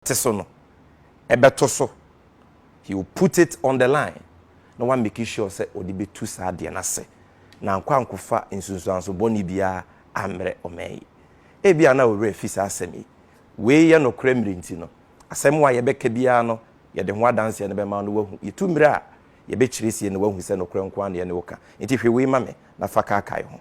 te so no bɛto so, he will put it on the line na wa make sure sɛ ɔde bɛtu saa adeɛ no ase na ankɔ ankofa nsunsuanso bɔne biara ammrɛ ɔman yi. Ebia na wo werɛ afi saa asɛm yi. Wei yɛ nokorɛ mmerɛ nti no, asɛm a yɛbɛka biara no yɛde ho adanseɛ no bɛma wo na woahu. Yɛtu mmerɛ a, yɛbɛkyerɛ sie na woahu sɛ nokorɛ nko ara na yɛne wo ka. Enti hwe wei ma me na fa kaakae ho.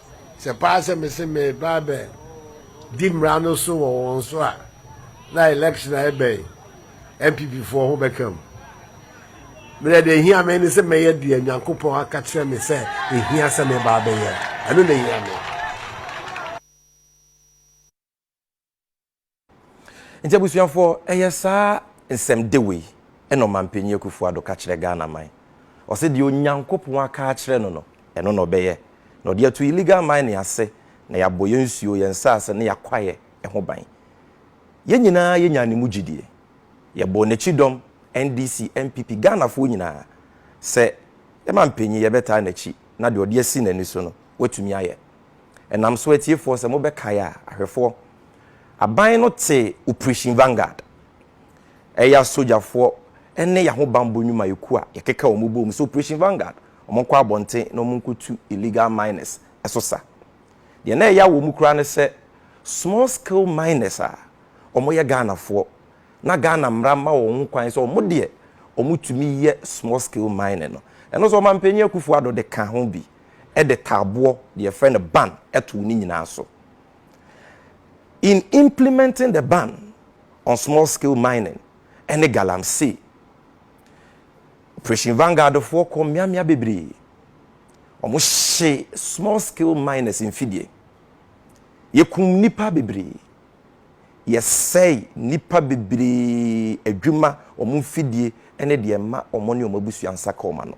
Sɛ paa sɛ me se mereba abɛ di mmara no so wɔ wɔn so a, na election a ɛbɛn NPP foɔ ho bɛka mu. Merɛ deɛ ehia me ne sɛ mɛyɛ deɛ Nyankopɔn aka kyerɛ me sɛ ehia sɛ meba abɛyɛ. Ɛno na ehia me. Nti abusuafoɔ, ɛyɛ saa nsɛm de wei na Ɔmanpanin Akuffo Addo ka kyerɛ Ghana man. Ɔse deɛ Onyankopɔn aka akyerɛ no no, ɛno na ɔbɛyɛ. Na ɔde ato illegal mining ase na yɛabɔ yɛn nsuo, yɛn nsaase ne yɛn kwaeɛ ho ban. Yɛn nyinaa yɛnyaa ne mu gyidie. Yɛbɔɔ n'akyi dɔm, NDC, NPP, Ghanafoɔ nyinaa, sɛ yɛn manpanin yɛbɛtaa n'akyi na deɛ ɔde asi n'ani so no, watumi ayɛ. Ɛnam so atiefoɔ sɛ mobɛkae a, ahwɛfoɔ, aban no te Operation Vanguard, ɛyɛ asogyafoɔ ne y'ahobanbɔ nnwumayɛkuo a yɛkeka wɔn bom sɛ Operation Vanguard, wɔn nkɔ abɔnten na wɔn nkɔtu illegal miners so sa. Deɛ na ɛya wɔn koraa ne sɛ small scale miners a wɔn yɛ Ghanafoɔ na Ghana mmara mma wɔn ho kwan sɛ wɔn deɛ wɔn tumi yɛ small scale mining no. Ɛno nso Ɔmanpanin Akufo-Addo de ka ho bi. de taaboɔ, deɛ yɛfrɛ no ban, too ne nyinaa so. In implementing the ban on small scale mining ne galamsey, Operation Vanguard foɔ kɔɔ mmeammea bebree, wɔhyee small scale miners mfidie, yɛkum nnipa bebree, yɛsɛe nnipa bebree adwuma, wɔn mfidie ne deɛ ɛma wɔn ne wɔn abusua nsa ka wɔn ano.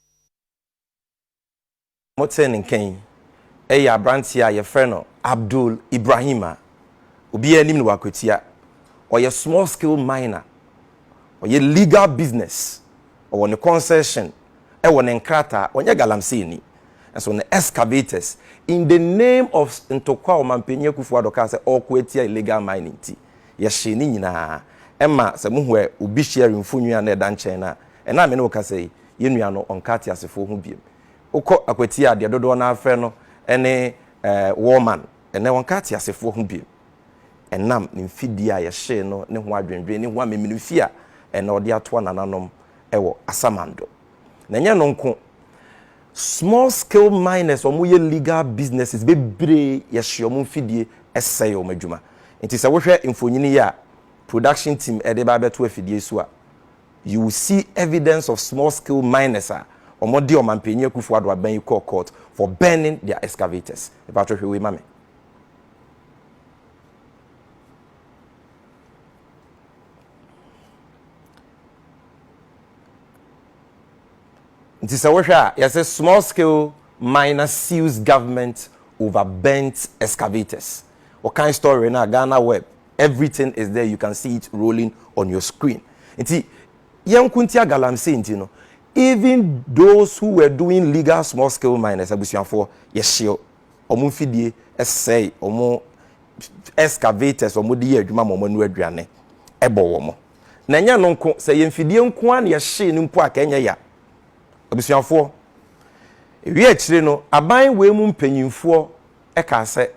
Motee ne nka yi, ɛyɛ aberanteɛ a yɛfrɛ no Abdul Ibrahim a obiara nim no wɔ Akwatia. Ɔyɛ small scale miner, ɔyɛ legal business, ɔwɔ ne concession, ɛwɔ ne nkrataa, ɔnyɛ galamseeni. Nso ne excavators, in the name of ntɔkwa a Ɔmanpanin Akuffo Addo kaa sɛ ɔreko atia illegal mining nti, yɛhyee ne nyinaa. Ɛma sɛ mohu obi sharing mfonini a na ɛda nkyɛn no a, Ɛnnɛ a me ne wo kasa yi, yɛn nua no, ɔnka ateasefoɔ ho biom. Wokɔ Akwati a, deɛ dodoɔ no ara frɛ no ne War man. Ɛnnɛ wɔnka ateasefoɔ ho biom. Ɛnam ne mfidie a yɛhyee no ne ho adwendwen ne ho amemenemfi a ɛnnɛ ɔde atoa nananom wɔ asamando. Na ɛnyɛ ɛno nko, small scale miners a wɔyɛ legal businesses bebree yɛhye wɔn mfidie sɛe wɔn adwuma. Nti sɛ wohwɛ mfonini yi a production team de reba abɛto afidie so a, You will see evidence of small scale miners a wɔn de ɔmanpanyin Akufo Addo aban yi kɔɔ court for burning their excavators. Mpatsɔ hwɛ wei ma me. Nti sɛ wohwɛ a yɛsɛ small scale miner sues government over burnt excavators. Wɔkan story no a Ghana Web Everything is there, you can see it rolling on your screen. Nti, yɛnko ntia galamsey nti no, even those who were doing legal small scale miners, abusuafoɔ, yɛhyeɛ wɔn mfidie, ɛsɛe wɔn excavators, wɔn de yɛ adwuma ma wɔn anu aduane, ɛbɔ wɔn. Na ɛnyɛ no nko, sɛ yɛ mfidie nko ara na yɛhyee no mpo a, ka ɛnyɛ ya. Abusuafoɔ, ewie akyire no, aban wei mu mpanyinfoɔ ɛkaa sɛ,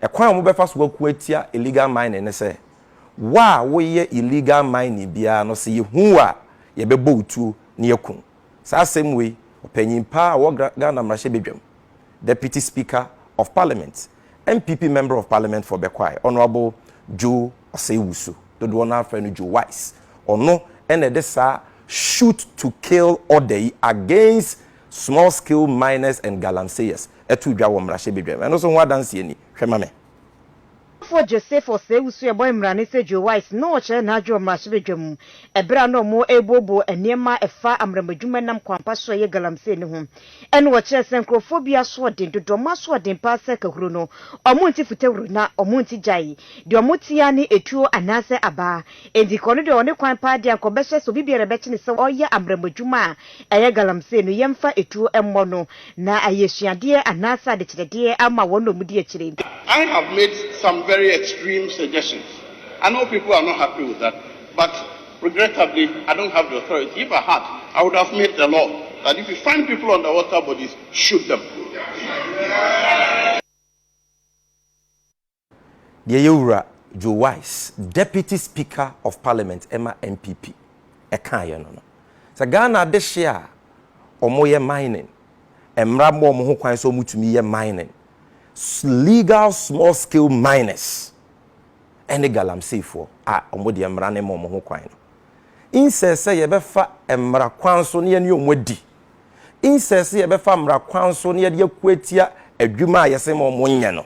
Ɛkwan a wɔbɛfa so ako atia illegal mining ne sɛ, wo a woyɛ illegal mining biara no sɛ yɛhu wo a, yɛbɛbɔ wo tuo na yɛaku wo. Saa asɛm wei, ɔpanyin paa a ɔwɔ Ghana mmarahyɛbadwam, Deputy Speaker of Parliament, NPP Member of Parliament for Bekwai, Honourable Joe Osei-Wusu, dodoɔ no ara frɛ no Joe Wise, ɔno na ɛde saa shoot to kill order yi against Small scale miners and galamseyers too dwa wɔ mmarahyɛ badwam. Ɛno nso ho adanseɛ ni. Hwɛ ma me. Ɔsɔfoɔ Joseph Osei-Usuebɔ mmrane sɛ Joe Wise na ɔkyerɛ n'adwene wɔ mmarahyɛ badwam mu ɛberɛ a na wɔn rebuobuo nneɛma a ɛfa amrammadwuma ɛnam kwampa so a ɛyɛ galamsey no ho. Ɛna ɔkyerɛɛ sɛ nkorɔfoɔ bi asoɔden dodo wɔn asoɔden paa sɛ kahuro no wɔn nte futahuro na wɔn nte gyae. Deɛ wɔte ara ne etuo anaasɛ abaa. Enti kɔ no deɛ ɔne kwan paa deɛ anka ɔbɛhyɛ sɛ obi biara bɛkyene sɛ ɔyɛ abrɛmɔ adwuma a ɛyɛ galamsee no yɛmfa etuo mmɔ no na ayɛ asuadeɛ anaasɛ adekyerɛdeɛ ama wɔn na wɔdi akyire. I have made some very extreme suggestions I know people are not happy with that but regrettably I don't have the authority if I had I would have made the law that if you find people on the water bodies shoot them. Deɛ ɛyɛ Owura Joe Wise, Deputy Speaker of Parliament ma NPP, kaeɛ no no, sɛ Ghana adehyeɛ a wɔyɛ mining, mmara ma wɔn ho kwan sɛ wɔtumi yɛ mining, legal small scale miners ne galamseyfoɔ a wɔn deɛ mmara no ma wɔn ho kwan no, insɛ sɛ yɛbɛfa mmara kwan so na yɛne wɔn adi, insɛ sɛ yɛbɛfa mmara kwan so na yɛde ako atia adwuma a yɛsɛ ma wɔnyɛ no,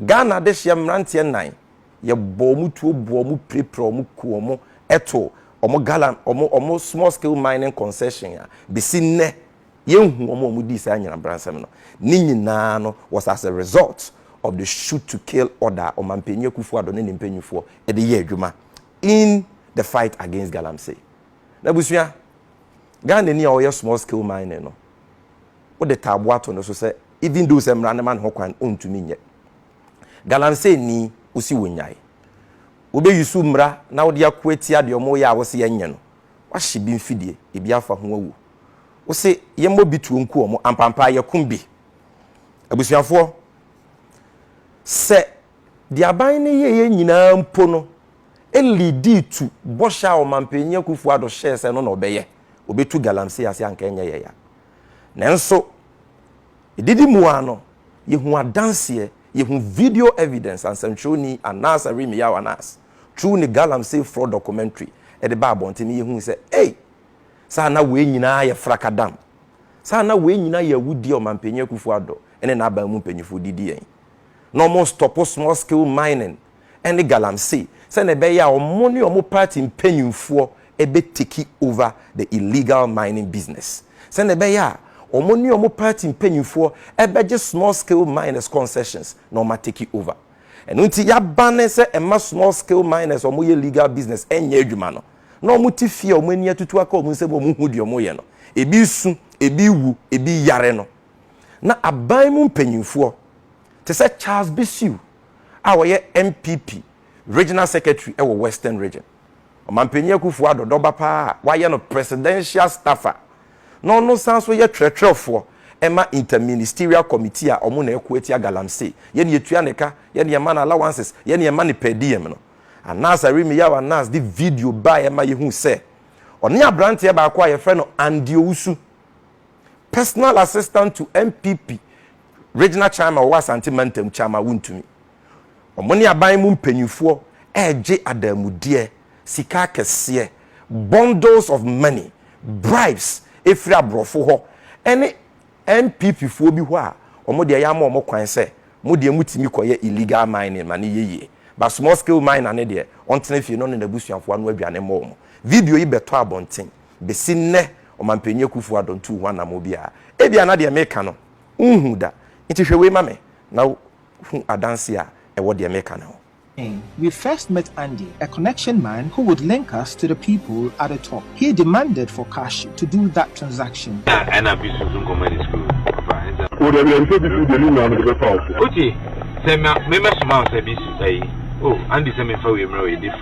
Ghana dehyeɛ mmeranteɛ nnan yɛ bɔ wɔn tuo boɔ wɔn pirepire wɔn ku wɔn ɛto wɔn galan wɔn wɔn small scale mining concession a besi nnɛ yɛn hu wɔn a wɔn dii saa nyinabransɛm no ne nyinaa no was as a result of the shoot to kill order a ɔmanpanyin akufo ado ne ne mpanyifoɔ ɛde yɛ adwuma in the fight against galamsey na busua Ghana ni a ɔyɛ small scale mining no wode taaboa to no so sɛ even though sɛ mmara no ma no ho kwan ɔntumi nyɛ. Galamsey nni, wosi wo nyae. Wobɛ use mmara na wode ako atia deɛ wɔyɛ a wose yɛnyɛ no. Woahye bi mfidie, ebi afa ho awu. Wose yɛmmɔ bi tuo nku wɔn, ampampaa yɛkum bi. Abusuafoɔ, sɛ deɛ aban no yɛeɛ nyinaa mpo no leadi to bɔhyɛ a Ɔmanpanin Akuffo Addo hyɛɛ sɛ ɛno na ɔbɛyɛ, ɔbɛtu Galamsey ase a anka ɛnyɛ yɛn ya. Nanso, edidi mu ara no, yehu adanseɛ, yehu video evidence a nsɛntwerɛni Anas Arimiyao Anas, True ne Galamsey Fraud Documentary de baa abɔnten no yehui sɛ, ei! Saa na wei nyinaa yɛ frakadam. Saa na wei nyinaa yɛ awudie a Ɔmanpanyin Akufo-Addo ne n'aban mu mpanyinfoɔ de di yɛn. Na wɔnstɔpo small scale mining. ne galamsey sɛnea ɛbɛyɛ a wɔn ne wɔn party mpanyimfoɔ bɛ take over the illegal mining business, sɛnea ɛbɛyɛ a wɔn ne wɔn party mpanyimfoɔ bɛgye small scale miners concessions na wɔn a take over. Ɛno nti yɛabane sɛ mma small scale miners a wɔyɛ legal business nyɛ adwuma no. Na wɔn te fie a wɔn ani atutu aka wɔn nsam a wɔn hu deɛ wɔyɛ no. Ebi resu, ebi rewu, ebi reyare no. Na aban mu mpanyimfoɔ te sɛ Charles Bissue, a ɔyɛ NPP Regional Secretary wɔ Western Region, Ɔmanpanyin Akufo-Addo dɔba paa a wɔayɛ no Presidential Staffer, na ɔno san nso yɛ twerɛtwerɛfoɔ ma Inter-Ministerial Committee a wɔn na ɛko atia Galamsey, yɛ nea ɛtua ne ka, yɛ nea ɛma no allowances, yɛ nea ɛma no per diem no. Anas Arimiyao Anas de video baeɛ ma yɛhuu sɛ ɔne aberanteɛ baako a wɔfrɛ no Andy Owusu, personal assistant to NPP regional chairman ɔwɔ Asante mantam chairman wontumi. Wɔn ne aban mu mpanyinfoɔ ɛregye adamudeɛ, sika akɛseɛ, bundles of money, bribes ɛfiri aborɔfo hɔ ɛne NPP foɔ bi hɔ a wɔn deɛ yɛama wɔn kwan sɛ mo deɛ motumi kɔyɛ illegal mining ma ne yɛ yie but small scale miner ne deɛ ɔntena fie na ɔne n'abusuafoɔ ano aduane mmɔ wɔn. Video yi bɛtɔ abɔnten. Besi nnɛ, Ɔmampanyin Akufo-Addo ntuu ho anammɔn biara. Ebia na deɛ meka no, wonhuu da. Enti hwɛ wei ma me, na hu adanse a ɛwɔ deɛ meka no ho. We first met Andy, a connection man who would link us to the people at the top. He demanded for cash to do that transaction. Na ɛna bi susu nkɔmɔ de sukuu papa ɛnsa. O dabi dabi sɛ bi su deɛ ne nyinaa mede bɛfa wo so. Otie sɛ me mɛsoma wo sɛ bi su ayi oh Andy sɛ memfa wei mmrɛ wo yɛde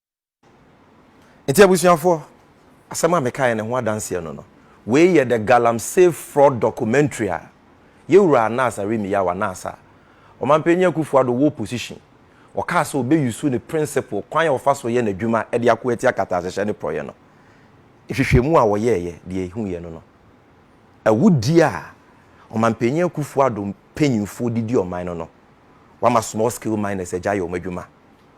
Nti abusuafoɔ, asɛm a mekaeɛ no ho adanseɛ no no, wei yɛ the Galamsey fraud documentary a Yɛwura Anas Arimiyah wɔ anaasa Ɔmanpanyin Akuffo Addo wɔ opposition, ɔkaa sɛ ɔbɛ use ne principle, kwan a ɔfa so yɛ n'adwuma de ako atia kataasehyɛ ne porɔeɛ no. Nhwehwɛmu a wɔyɛeɛ, deɛ ɛhuiɛ no no, awudie a Ɔmanpanyin Akuffo Addo mpanyinfoɔ de di ɔman no no, wama small scale miners agyae wɔn adwuma.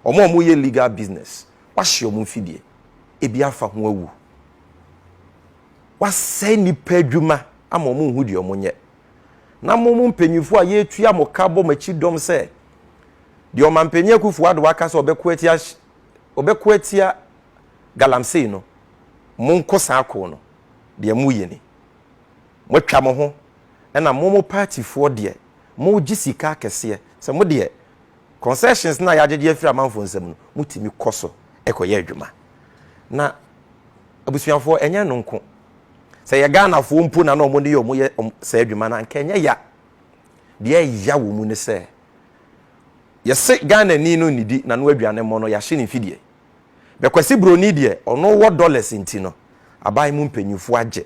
Wɔn a wɔyɛ legal business, wɔahye wɔn mfidie, ebi afa ho awu. Wɔasɛe nnipa adwuma ama wɔn nhu deɛ wɔnyɛ. Na mo mo mpanyinfoɔ a yɛretua mo ka bɔ mo akyi dɔm sɛ deɛ ɔmanpanin Akufo Addo aka sɛ ɔbɛko atia ɔbɛko atia galamsey no, monko saa ko no, deɛ moyɛ ni. Moatwa mo ho ɛna mo mo partyfoɔ deɛ mogye sika akɛseɛ sɛ mo deɛ Concessions no a yɛagyegye afiri amanfoɔ nsam no, motumi kɔ so kɔyɛ adwuma. Na abusuafoɔ, ɛnyɛ ɛno nko. Sɛ ɛyɛ Ghanafoɔ mpo na na wɔn ne wɔn yɛ saa adwuma no a, anka ɛnyɛ ya. Deɛ ɛya wɔ mu ne sɛ, yɛse Ghanani no nnidi n'ano aduane mmɔ no, yɛahye ne mfidie. Bɛkwasi Buroni deɛ, ɔno wɔ dollars nti no, aban mu mpanimfoɔ agye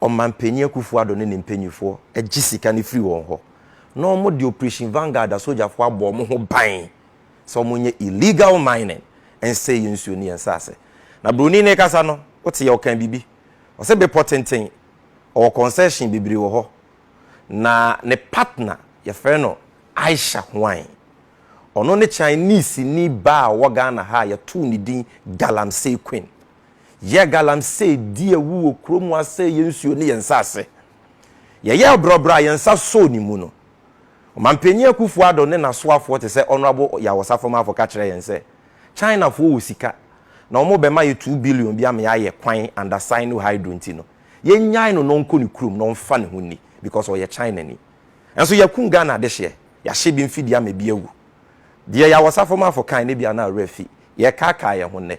Ɔmanpanyin Akufo-Addo ne ne mpanyimfo gye sika no firi wɔn hɔ, na wɔde Operation Vanguard asogyafo abɔ wɔn ho ban sɛ wɔnyɛ illegal mining nsɛe yɛn nsuo ne yɛn nsaase. Na Buroni no rekasa no, woteɛ ɔkaa biribi. Ɔse bepɔ tenten, ɔwɔ concession bebree wɔ hɔ. Na ne partner, yɛfrɛ no Aisha Hwang. Ɔno ne Chinese-ni baa a ɔwɔ Ghana ha a yɛtoo ne din Galamsey Queen. Yɛ galamsey di awu wɔ kuro mu asɛe yɛn nsuo ne yɛn nsase. Yɛyɛɛ brɔbrɔ a yɛn nsa sɔɔ ne mu no, Ɔmanpanin Akuffo Addo ne n'asoafoɔ te sɛ Honourable Yaw Osafo-Maafo ka kyerɛɛ yɛn sɛ Chinafoɔ wɔ sika na wɔbɛma yɛ two billion bi ama yɛayɛ kwan under Sino Hydro nti no yɛnnyae no na ɔnkɔ ne kurom na ɔmfa ne ho nni because ɔyɛ Chinani. Nanso yɛakum Ghana adehyeɛ, yɛahye bi mfidie ama bi awu. Deɛ Yaw Osafo-Maafo kae no ebia na werɛ afi, yɛrekaakae yɛn ho nnɛ.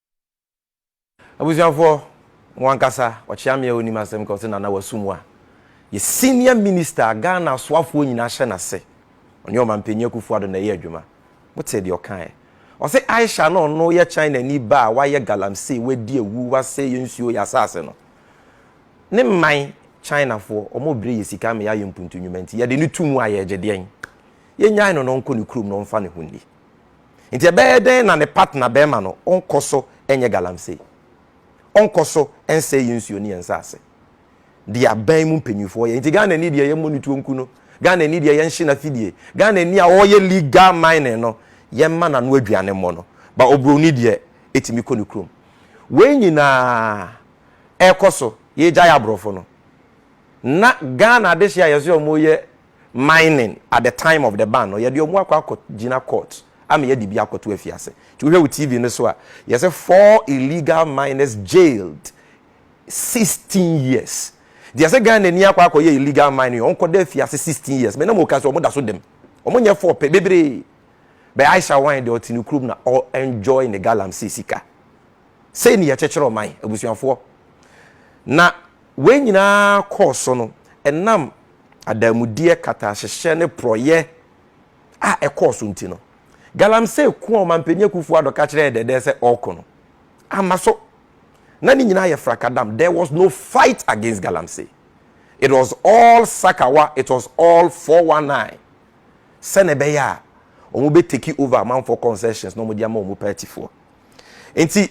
Abusuafoɔ, mo ankasa, Ɔkyeameɛ a ɔnnim asɛm ka, ɔse Nana Wasu Mua yɛ senior minister a Ghana asoafoɔ nyinaa hyɛ n'ase, ɔne Ɔmanpanin Akuffo Addo na ɛyɛ adwuma. Motee deɛ ɔkaeɛ. Ɔse Aisha na ɔno yɛ Chinani ba a wayɛ galamsey, wadi awu, wasɛe yɛn nsuo, yɛn asase no. Ne mman, Chinafoɔ, wɔbrɛ yɛn sika ama yɛayɛ mpuntu nnwuma nti, yɛde no to mu a yɛregye deɛn? Yɛnnyae no na ɔnkɔ ne kurom na ɔmfa ne ho nni. Nti ɛbɛyɛ dɛn na ne partner barima no ɔnkɔ so nyɛ galamsey? Ɔnkɔ so nsɛe yɛn nsuo ne yɛn nsase? Deɛ aban mu mpanyinfoɔ yɛ. Nti Ghanani deɛ yɛmmɔ ne tuo nku no, Ghanani deɛ yɛnhye n'afidie, Ghanani a ɔreyɛ legal mining no yɛmma n'ano aduane mmɔ no, but oburoni deɛ ɛtumi kɔ ne kurom. Wei nyinaa ɛrekɔ so, yɛregyae aborɔfo no, na Ghana adehyeɛ a yɛse wɔyɛ mining at the time of the ban no yɛde ɔmo akɔ akɔ gyina court ama yɛde bi akɔto afiase nti wohwɛ wo TV no so a yɛsɛ four illegal miners jailed sixteen years nti yɛsɛ Ghana ni akɔ akɔ yɛ illegal mining ɔmo kɔda afiase sixteen years mɛ na mo ka so ɔmo da so dɛm ɔmo nyɛ four pɛ bebree bɛ Aisha wine deɛ ɔte ne kurom na ɔ enjoy ne galamsey sika Sei ne yɛkyekyere ɔman, abusuafoɔ. Na wei nyinaa kɔɔ so no, ɛnam adanmudeɛ, katahyehyɛ ne porɔeɛ a ɛkɔɔ so nti no, Galamsey ko a Ɔmanpanin Akuffo Addo ka kyerɛɛ Dɛdɛ sɛ ɔreko no, amma so. Na ne nyinaa yɛ frakadam, there was no fight against Galamsey. It was all sakawa, it was all 419. Sɛnea ɛbɛyɛ a wɔbɛtake over amanfoɔ concessions na wɔde ama wɔn partyfoɔ. Enti,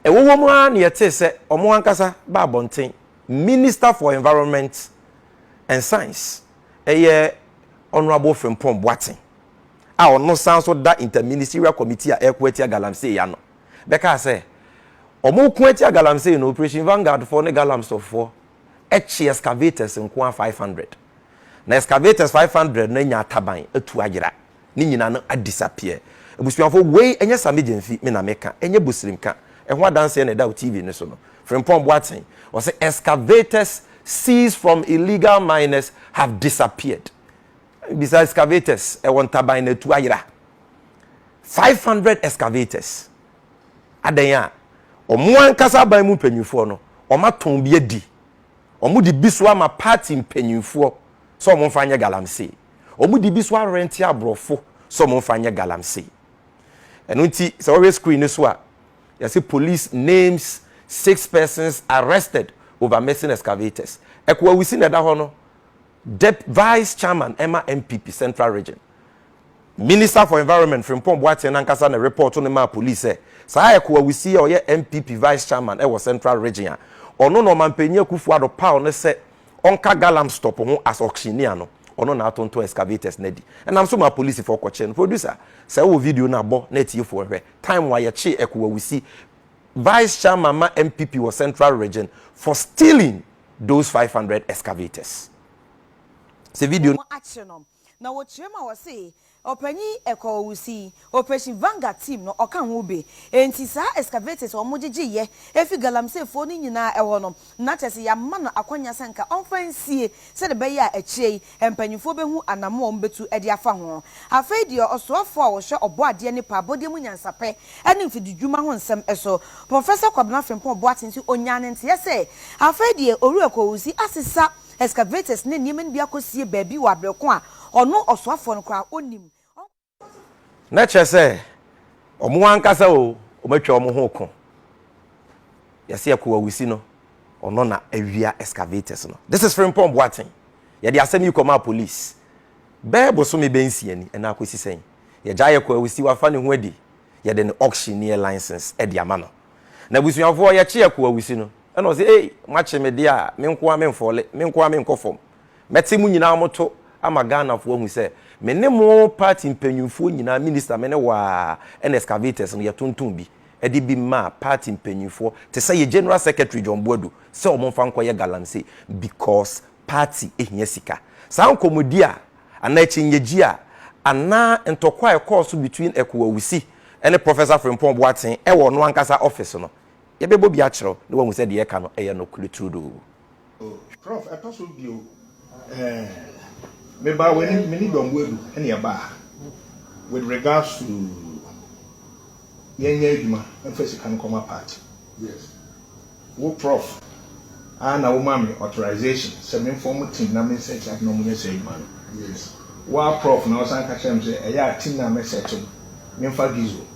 ɛwɔ hɔ mu ara na yɛtee sɛ wɔn ankasa ba abɔnten, Minister for Environment and Science, ɛyɛ Honourable Frimpong Boateng, a ɔno san nso da Interministerial Committee a ɛreko atia galamsey ano, bɛkaa sɛ wɔreko atia galamsey no, Operation Vanguard foɔ ne Galamsoh foɔ kye excavators nko ara 500, na excavators 500 no anya ataban atu ayera. ne nyina no a disappear. Abusuafo wei ɛnyɛ Sammy Gyamfi me na me ka, ɛnyɛ Busirim ka, ɛho adanseɛ na ɛda wo TV no so no. Frimpong Boatsen, ɔse excavators seized from illegal miners have disappeared. Bisa excavators ɛwɔ Ntaban na atu ayera. 500 excavators. Adɛn a ɔmo ankasa aban mu mpanyinfoɔ no ɔmo atɔn bi adi, ɔmo de bi so ama party mpanyinfoɔ sɛ ɔmo nfa nyɛ galamsee. Ɔmo de bi so arɛnte abrɔfo sɛ ɔmo nfa nyɛ galamsey. Ɛno nti sɛ wɔhwɛ screen no so a, yɛse police names six persons arrested over missing excavators. Ɛko Awusi na ɛda hɔ no, Dep Vice Chairman ɛma NPP Central Region. Minister for Environment Frimpong Boateng no ankasa na ɛrepɔɔto no maa police sɛ saa Ɛko Awusi yi a ɔyɛ NPP Vice Chairman ɛwɔ Central Region a ɔno na Ɔmanpanyin Akufo-Addo paw no sɛ ɔnka Galamstop ho as auctioneer no, ɔno na atontɔn excavators no adi. Ɛnam so maa polisifɔɔ kɔkyee no. Producer, sɛ wowɔ video no a bɔ na atiefoɔ nhwɛ. Time a yɛkyee Ekowa Wusi, Vice Chairman ma NPP wɔ Central Region, for stealing those five hundred excavators. Sɛ video no. Wɔakyere no. Na wɔkyerɛ mu a wɔse ɔpanyin yi ɛkɔ ɔwusi operation vanguard team no ɔka ho bi enti saa excavators a wɔgyegye yɛ efi galamsey foɔ no nyinaa ɛhɔ no na kyerɛ sɛ yɛama no akwanya sɛ nka ɔmfa nsie sɛdeɛ ɛbɛyɛ a akyire yi mpanyinfoɔ bɛhu anamoa a wɔbɛtu de afa ho afei deɛ ɔsoafoɔ a ɔhwɛ ɔbɔadeɛ nnipa abɔdeɛ mu nyansapɛ ne mfididwuma ho nsɛm so Professor Kwabena Frimpong Boateng nso ɔnyaa ne nteɛ sɛ afei deɛ owura ɛkɔ ɔwusi asesa Excavators ne nneɛma no bi akɔsie baabi wɔ aberɛ ko a ɔno ɔsoafoɔ no koraa ɔnnim. Na kyerɛ sɛ, wɔn ankasa o, wɔatwa wɔn ho reko. Yɛse ɛko a wɔsi no, ɔno na awia excavators no. This is Frimpong Boateng. Yɛde asɛm yi kɔmaa police bɛyɛ bosome bɛyɛ nsia ni, ɛnna akɔsi sɛn? Yɛgyae ɛko a wɔsi, wafa ne ho adi, yɛde ne auctioneer license de ama no. Na abusuafoɔ, yɛkye ɛko a wɔsi no. Ɛna ɔse, Ei, moakye me deɛ a, me nko ara memfɔɔle, me nko ara menkɔ fam. Mɛte mo nyinaa mo to ama Ghanafoɔ ahu sɛ, me ne mo party mpanyinfoɔ nyinaa, minister, me ne wo ara, ɛna excavators no, yɛtonton bi de bi maa party mpanyinfoɔ te sɛ yɛ General Secretary John Boadu sɛ wɔn mfa nkɔyɛ galamsey because party hia sika. Saa nkɔmmɔdi a, anaa akyinnyegye a, anaa ntɔkwa a ɛkɔɔ so between Ekuo Awusi ne Professor Frimpong Boateng wɔ ɔno ankasa office no, Yɛbɛbɔ bi akyerɛ wo na woahu sɛ deɛ yɛka no yɛ nokorɛ turodoo. Oh prof ɛtɔ so bio eh me baa w'anim me ne dɔmbo adu ɛne ɛbaa with regards to yɛn nyɛ adwuma mfa sika no kɔma party wo prof ara na wo maa me authorization sɛ me form team na me set up na ɔmo nyɛ saa adwuma no wo ara prof na wo san ka kyerɛ me sɛ ɛyɛ a team no a mɛ set no me mfa Gizzo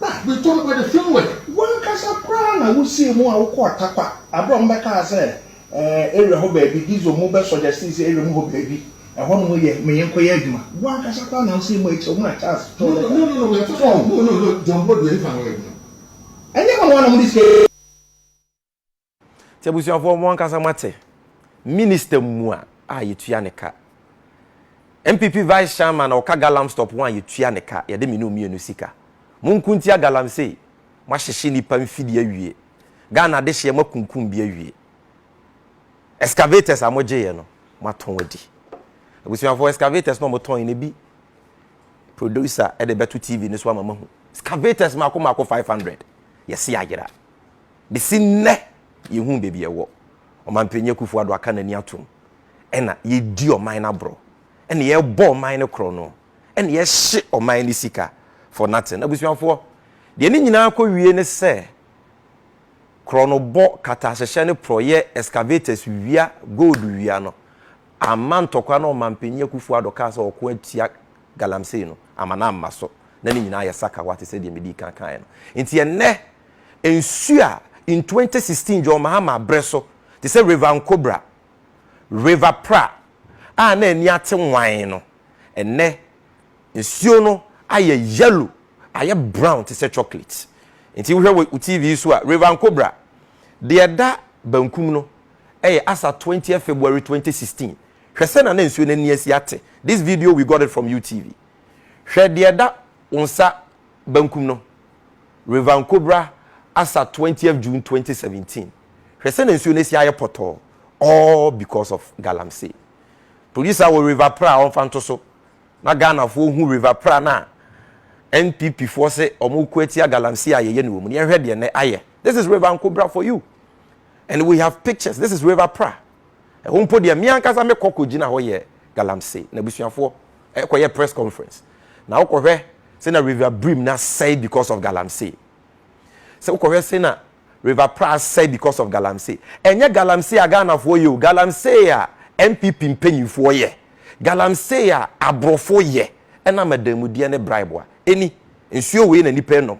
Na metɔ no by the film work. W'ankasa koraa na wosii mu a wokɔ Atakwa aberɛ a wɔn bɛkaa sɛ ɛɛ area hɔ baabi Diesel mu bɛ sɔgyɛstee sɛ area mu hɔ baabi ɛhɔ nom yɛ ma yɛn kɔyɛ adwuma. W'ankasa koraa na wosii mu akyire mu na Charles twerɛ lɛta. No no no no so wɔn. No no no John Boadu yɛn ne fa na wɔyɛ adwuma. Ɛnyɛ mo na wɔn na mode sika yi. Nti abusuafoɔ mo ankasa moate, minister mua a yɛtua ne ka, NPP vice chairman a ɔka galamstop ho a yɛtua ne ka, yɛde mene omienu sika. Monko ntia galamsey, moahyehye nipa mfidie awie, Ghana adehyeɛ moakunkum bi awie, excavators a mogyeeɛ no moatɔn adi. Abusuafoɔ excavators no a motɔn no bi producer de bɛto TV no so ama mahu, excavators mako mako 500, yɛse ayera. Besi nnɛ yɛnhuu baabi a ɛwɔ. Ɔmanpanyin Akufo-Addo aka n'ani atom. Ɛna yɛredi ɔman no aborɔ. Ɛna yɛrebɔ ɔman no korɔno. Ɛna yɛhye ɔman no sika for nothing. Abusuafoɔ, deɛ ne nyinaa kɔwie ne sɛ, korɔnobɔ, katahyehyɛ ne porɔeɛ excavators wia, gold wia no amma ntɔkwa na Ɔmanpanyin Akufo-Addo kaa sɛ ɔko atia galamsey no ama no amma so, na ne nyinaa ayɛ sakawa te sɛ deɛ medii kan kaeɛ no. Enti ɛnnɛ, nsuo a in 2016 John Mahama berɛ so, te sɛ River Nkobra, River Pra, a na ani ate nwann no, ɛnnɛ nsuo no ayɛ yellow, ayɛ brown te sɛ chocolate. Enti wohwɛ wɔ wo TV yi so a, River Nkobra, deɛ ɛda bankum no, ɛyɛ asa 20th February 2016, Hwɛ sɛnea na nsuo no ani asi ate This video we got it from UTV Hwɛ deɛ ɛda wo nsa bankum no River Nkobra Asa twentieth June twenty seventeen Hwɛ sɛnea nsuo no asi ayɛ pɔtɔɔ All because of Galamsey Producer wɔ River Pra a ɔmfa nto so na Ghanafoɔ hu River Pra no a NPP foɔ se wɔko atia Galamsey a yɛyɛ no wɔ mu no Yɛnhwɛ deɛ nnɛ ayɛ This is River Nkobra for you and we have pictures This is River Pra Ɛhɔ mpo deɛ me ankasa mekɔ kɔgyina hɔ yɛ galamsey na abusuafoɔ ɛkɔyɛ press conference na wokɔhwɛ sɛ na River Bream no asɛe because of galamsey. Sɛ wokɔhwɛ sɛ na River Pra asɛe because of galamsey. Ɛnyɛ galamsey a Ghanafoɔ yɛ o, galamsey a NPP mpanyinfoɔ yɛ, galamsey a aborɔfo yɛ ɛnam adanmudeɛ ne bribe a ɛni nsuo wei na nnipa nom.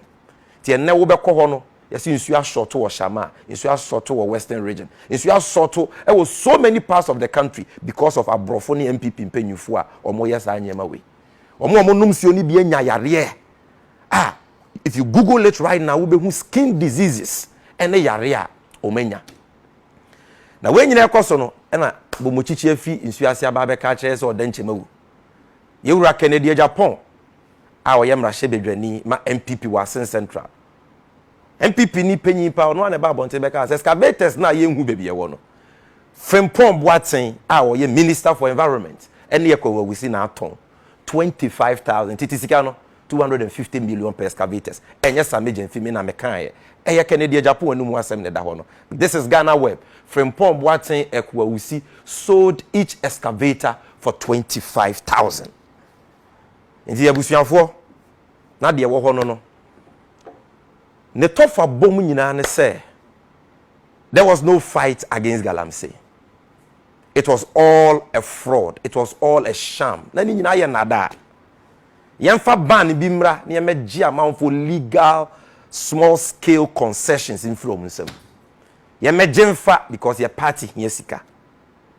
Nti ɛnnɛ wobɛkɔ hɔ no, yɛse nsuo asɔɔto wɔ Shamaa, nsuo asɔɔto wɔ Western Region, nsuo asɔɔto wɔ so many parts of the country because of aborɔfo ne NPP mpanyinfoɔ a wɔyɛ saa nneɛma wei. Wɔn a wɔnom nsuo no bi anya yareɛ a if you google it right now wobɛhu skin diseases ɛne yareɛ a wɔn anya. Na wei nyina ɛkɔ so no ɛna Bomokyikyi afi nsuo ase aba abɛka akyerɛ sɛ ɔda nkyɛm awu. Yɛwura Kennedy Agyapong a ɔyɛ mmarahyɛbadwani ma NPP wɔ Asin Central. NPP ni panyin pa, ɔno ara na ɛbaa abɔnten bɛkaa sɛ excavators no a yɛnhu baabi ɛwɔ no, Frimpong Boateng a ɔyɛ Minister for Environment ne Ɛkɔ Awusi na atɔn 25,000 nti te sika no 250 million per excavators. Ɛnyɛ saa Major mfi me na mekaeɛ. Ɛyɛ Kennedy Agyapong anum asɛm na ɛda hɔ no. This is Ghana Web. Frimpong Boateng Ɛkɔ Awusi sold each excavator for 25,000. nti abusuafoɔ na deɛ ɛwɔ hɔ no no ne tɔfa bom nyinaa ne sɛ there was no fight against galamsey it was all a fraud it was all a sham na ne nyinaa yɛ nnadaa yɛmfa ban bi mmra na yɛmɛgye amanfoɔ legal small scale concessions mfiri wɔn nsam yɛmɛgye mfa because yɛ party hia sika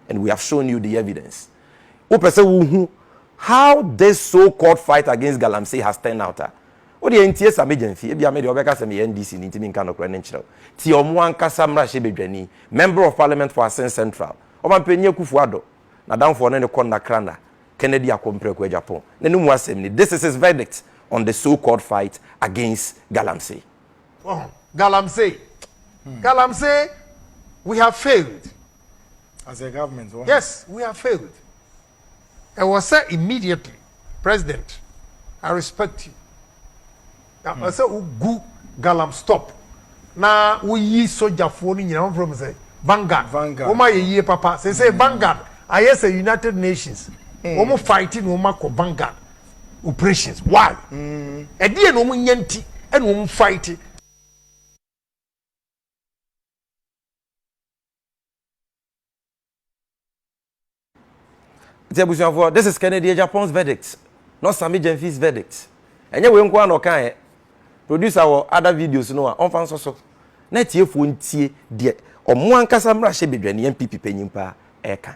And we have shown you the evidence. Wopɛ sɛ wohu how this so called fight against Galamsey has turned out a, wodeɛ ntie Sammy Gyamfi, ebia me deɛ wɔbɛka sɛ meyɛ NDC ni nti menka nokorɛ no nkyerɛ wo. Tie wɔn ankasa mmarahyɛbadwani, Member of Parliament for Asin Central, Ɔmanpanyin Akuffo Addo, n'adamfoɔ ne ne kɔnna Krana, Kennedy Ako Mprako Agyapong, na ne mu asɛm ni, This is his verdict on the so called fight against Galamsey. Ɔho, galamsey, galamsey, we have failed. As a government, ɔho. Yes, we have failed. Ɛwɔ sɛ immediately, president, I respect you. Na ɛwɔ sɛ wogu galam stop na woyi sogyafoɔ no nyinaa wɔmfrɛ mu sɛ Vanguard. Vanguard. Wɔn ayɛ yie papa. Sɛ sɛ Vanguard ayɛ sɛ United Nations. Wɔn fight na wɔn akɔ Vanguard. operations why ɛdeɛ na wɔn nya nti ɛna wɔn fight. nti abusuafoɔ this is kennedy agyapong's verdict not sami gyamfi's verdict ɛnyɛ wei nko ara na ɔkaeɛ producer wɔ other videos no a ɔmfa nsɔ so na atiefoɔ ntie deɛ ɔmo ankasa mmarahyɛ badwani npp panyin paa ɛka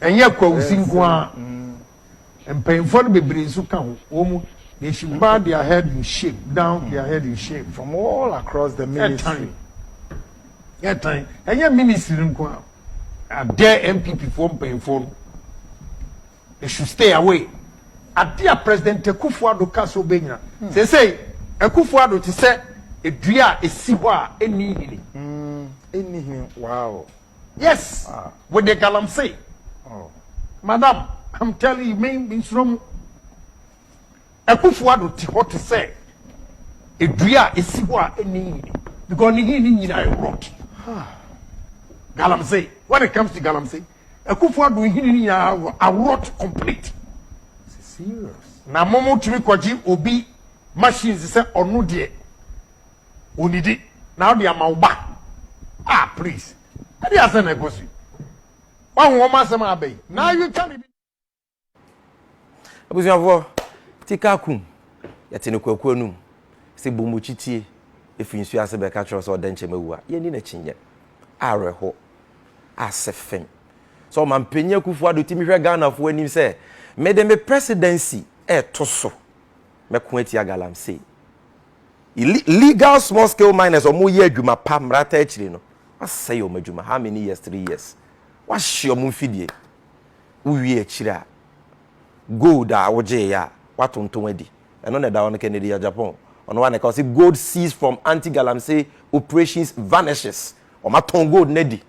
Ɛnyɛ Kwawusi nko ara, mpanyimfoɔ no bebree nso ka ho. Wɔn, they should bow their head in shame, down their head in shame. From all across the ministry. Ɛtan, ɛtan, ɛnyɛ ministry no nko ara. I dare NPP foɔ mpanyimfoɔ no, they should stay away. Ade a President Akufo-Addo ka so bɛnyina. Seesei, Akufo-Addo te sɛ dua a ɛsi hɔ a ɛnni nhini. Ɛnni nhini, wow. Yes with the galamsey. Oh. Madam, I'm telling you, me nsoro mu. Akufo ado te hɔ te sɛ edua a esi hɔ a ɛnni nhini because ne nhini nyinaa yɛ rot. Galamsey, when it comes to galamsey, akufo ado nhini ne nyinaa aworot complete. Serious. Na mo mo tumi kɔgye obi machines sɛ ɔno deɛ onidi na ɔde ama wo ba ah please ɛde asɛn na ɛkɔ so yi wahu wɔn asɛm a aba yi na ayi ka ne bi. abusuafoɔ tika kum yɛte ne kwaku anum sɛ bɔmmɔkyi tie ɛfiri nsuo ase bɛka kyerɛ sɛ ɔda nkyɛm awu a yɛni n'akyinyɛ awerɛho asɛ fam sɛ ɔma mpanyin akufo ado tumi hwɛ ghanafoɔ anim sɛ mede me presidency ɛɛto so mɛko atia galamsey legal small scale miners ɔmo yɛ adwuma pa mmerata akyiri no wasɛe ɔmo adwuma how many years three years wahye ɔmo mfidie wowie akyiri a gold a wogye yɛ a watonton adi ɛno na ɛda hɔ no kennedy ya japan ɔno wa na ɛka ɔsi gold seized from anti galamsey operations vanishes ɔmo atɔn gold no adi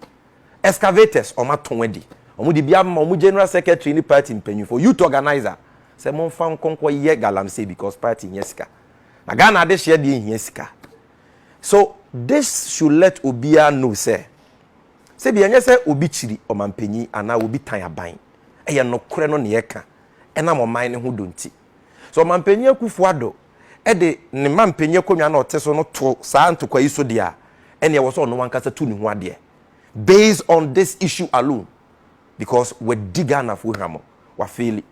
excavators ɔmo atɔn adi ɔmo de bi ama ɔmo general secretary ne party mpanyinfo youth organizer sɛ mo nfa nkonko yɛ galamsey because party nyɛ sika. Na Ghana adehyeɛ deɛ nhia sika. So this should let obiara know sɛ sɛbi ɛnyɛ sɛ obi kyiri ɔmanpanyin anaa obi tan aban. Ɛyɛ nokorɛ no na yɛka ɛnam ɔman no ho dɔ nti. Sɛ ɔmanpanyin Akuffo Addo de ne manpanyin akonnwa no a ɔte so no to saa ntokwa yi so deɛ a, ɛnneɛ ɛwɔ sɛ ɔno ankasa tu ne ho adeɛ based on this issue alone because wadi Ghanafoɔ hwammɔ. Wafeeli.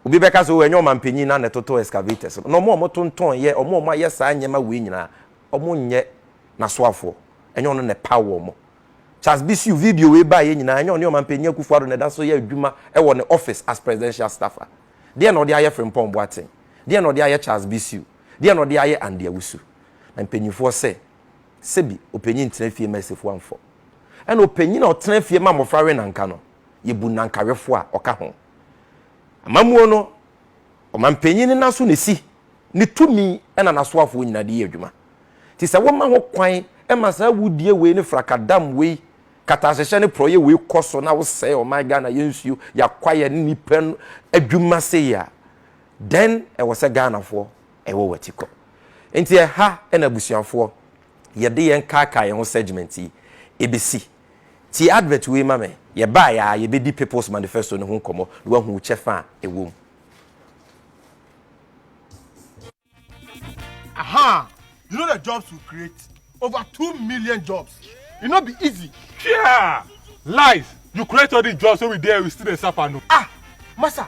Obi bɛka sɛ, oh, ɛnyɛ ɔmampanyin no ara na ɛtotoo excavators no, na wɔn a wɔtontɔn yɛ, wɔn a wɔayɛ saa nneɛma wei nyinaa, wɔnyɛ n'asoafoɔ. Ɛnyɛ ɔno na ɛpaw wɔn. Charles Bissue, video wei baeɛ nyinaa, ɛnyɛ ɔne Ɔmampanyin Akufo-Addo na ɛda so yɛ adwuma wɔ ne office as presidential staffer. Deɛn na ɔde ayɛ Frimpong Boateng? Deɛn na ɔde ayɛ Charles Bissue? Deɛn na ɔde ayɛ Andy Awusu? Na mpanyinfoɔ sɛ, sɛbi, ɔpanyin ntena fie mma asifoɔ amfɔ. Ɛna ɔpanyin a ɔtena fie ma mmɔfra we nanka no, Yebu Nankawefo a ɔka ho. Amammuo no, ɔmampanyin no naso na esi, ne tumi na nasoafoɔ nyinaa de yɛ adwuma. Nti sɛ woma ho kwan ma saa awudie wei ne frakadam wei, katahyehyɛ ne prɔyɛ wei kɔ so na wosɛe ɔman Ghana yɛ nsuo, yɛ akwaeɛ ne nnipa adwuma sei a, then ɛwɔ sɛ Ghanafoɔ ɛwɔ w'akyi kɔ. Nti ɛha na abusuafoɔ yɛde yɛn kaakae yɛn ho segment yi bɛsi. Tie advert wei ma me. Yɛbaeɛ ara, yɛbɛdi People's Manifesto no ho nkɔmmɔ na woahu wo kyɛfa a ɛwɔ mu. Ahaa you know the jobs we create over two million jobs e no be easy. Hwee aa lies you create all this jobs wey we dey here we still dey suffer no. Ah massa